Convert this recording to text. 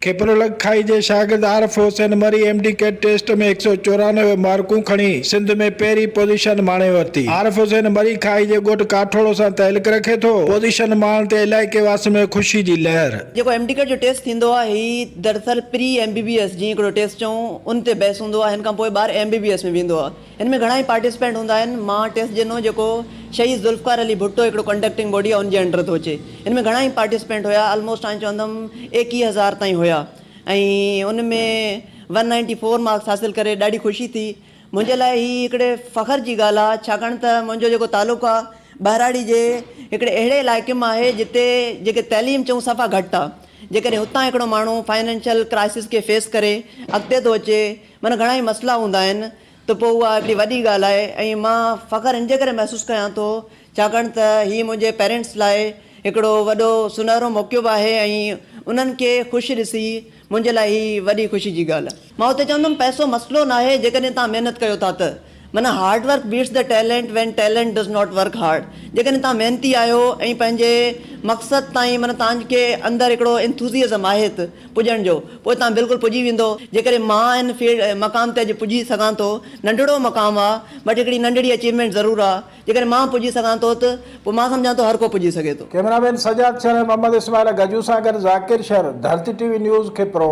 کيپرولڳ کائي جي شاگرد Arif Hussain Mari M D CAT test ۾ هڪ سؤ چورانوي مارڪون کڻي سنڌ ۾ پهرين پوزيشن ماڻي ورتي. عارف حسين مري کائي جي ڳوٺ ڪاٺوڙو سان تعلق رکي ٿو. پوزيشن ماڻڻ تي علائقي واسين ۾ خوشي جي لهر. جيڪو ايم ڊي ڪيٽ جو ٽيسٽ ٿيندو آهي هي دراصل pre M B B S جيئن هڪڙو ٽيسٽ چئون ان تي بيس هوندو آهي هن کان پوء ٻار ايم بي بي ايس ۾ ويندو آهي. هن ۾ گهڻا ئي پارٽيسپينٽ هوندا آهن. مان ٽيسٽ ڏنو جيڪو شهيد ذوالفقار علي ڀٽو هڪڙو ڪنڊڪٽنگ باڊي آهي ان جي انڊر ٿو اچي. هن ۾ گهڻا ئي پارٽيسپينٽ هيا آلموسٽ آئين چوندم ايڪيهه هزار تائين هيا ۽ ان ۾ ون نائنٽي فور مارڪس حاصل ڪري ڏاڍي خوشي ٿي. منهنجي لاء هي هڪڙي فخر جي ڳالهه آهي ڇاڪاڻ ته منهنجو جيڪو تعلق آهي ٻهراڙي جي هڪڙي اهڙي علائقي مان آهي جتي جيڪي تعليم چئون صفا گهٽ آهي جيڪڏهن هتان هڪڙو ماڻهو فائنينشل ڪرائسز کي فيس ڪري اڳتي ٿو اچي معنيٰ گهڻا ئي مسئلا هوندا آهن ته پوء اها هڪڙي وڏي ڳالهه آهي ۽ مان فخر ان جي ڪري محسوس ڪيان ٿو ڇاڪاڻ ته هي منهنجي پيرينٽس لاء هڪڙو وڏو سونهرو موقعو به آهي ۽ انهن کي خوش ڏسي منهنجي لاء هي وڏي خوشي جي ڳالهه. مان اتي چوندم پئسو مسئلو ناهي جيڪڏهن توهان محنت ڪيو ٿا ته. معنيٰ hard work beats the talent when talent does not work hard جيڪڏهن توهان محنتي آهيو ۽ پنهنجي مقصد تائين معنيٰ توهان کي اندر هڪڙو انٿوزيئزم آهي ته پڄڻ جو پوء توهان بلڪل پڄي ويندو جيڪڏهن مان ان مقام تي اڄ پڄي سگهان ٿو ننڍڙو مقام آهي بٽ هڪڙي ننڍڙي اچيومينٽ ضرور آهي. جيڪڏهن مان پڄي سگهان ٿو ته پوء مان سمجهان ٿو هر ڪو پڄي سگهي ٿو. ڪيمرا مين سجاد شر ۽ محمد اسماعيل گجو سان گڏ Zakir Shar, Dharti T V news, Khipro.